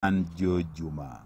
an Joe Juma.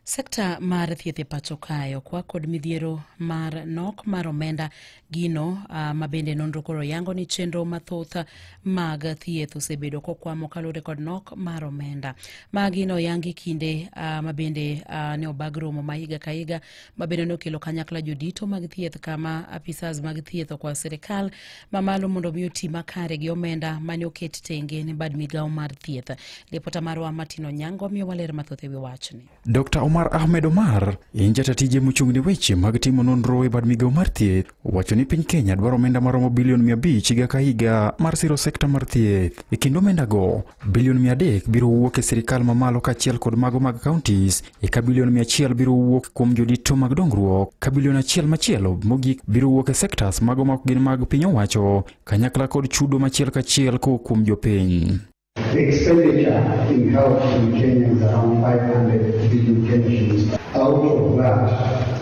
Sekta mar thieth e pacho kae okwa kod midhiero mar nok mar omenda gino uh, ma bende nonro koro yango ni chenro mathoth mag thieth osebedo kokwamo kaluwore kod nok mar omenda ma gino yangi kinde uh, ma bende uh, ne obag romo ma higa ka higa ma bende nokelo kanyakla jodito mag thieth kama apisas mag thieth okwa sirikal mamalo mondo mi oti makare gi omenda mane oket tenge ne bad migawo mar thieth lipota marwa martin onyango miyo waler mathoth ewi wachni dr omar ahmed omar en jata tije mochung' ne weche mag timo nonro e bad migawo mar thieth wacho ni piny kenya dwaro omenda maromo bilion mia abich higa ka higa mar siro sekta mar thieth e kendo omendago Bilion 300 biro wuok e sirkal mamalo kaachiel kod mago mag counties, eka bilion 100 biro wuok kuom jodito mag dongruok, ka bilion achiel machielo mogik biro wuok e sectors mago ma ok gin mag piny owacho, kanyakla kod chudo machiel kachiel kowuok kuom jopiny. The expenditure in health in Kenya is around 500 billion Kenya shillings. Out of that,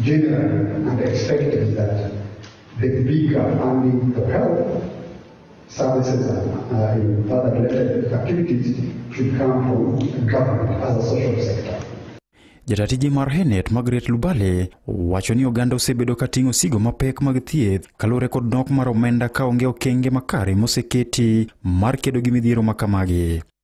Generally, and expected that the bigger and the health services and uh, other related activities should come from government as a social sector. Jatatiji mar Henet Margaret Lubale wacho ni oganda osebedo ka ting'o sigo mapek mag thieth kaluwore kod nok mar omenda ka onge okenge makare moseketi mar kedo gi midhiero ma kamagi.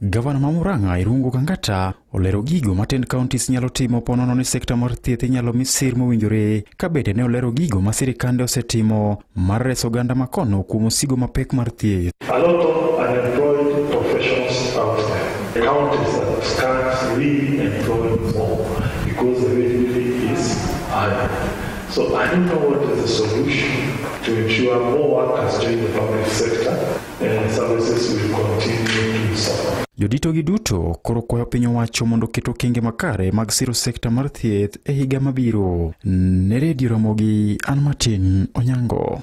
Gavana ma Murang'a Irungu Kangata olero gigo ma ten counties nyalo timo ponono ni sekta mar thieth inyalo mi sir mowinjore ka bende ne olero gigo ma sirikande osetimo mar reso oganda ma kono kuom osigo mapek mar thieth. A lot of unemployed professionals out there. The counties that start really employing more because the wage bill is higher. So I don't know what is the solution to ensure more workers join the public sector. Joditogi duto koro kwayo piny owacho mondo oket okenge makare mag siro sekta mar thieth e higa mabiro. Ne redio Ramogi, an Martin Onyango.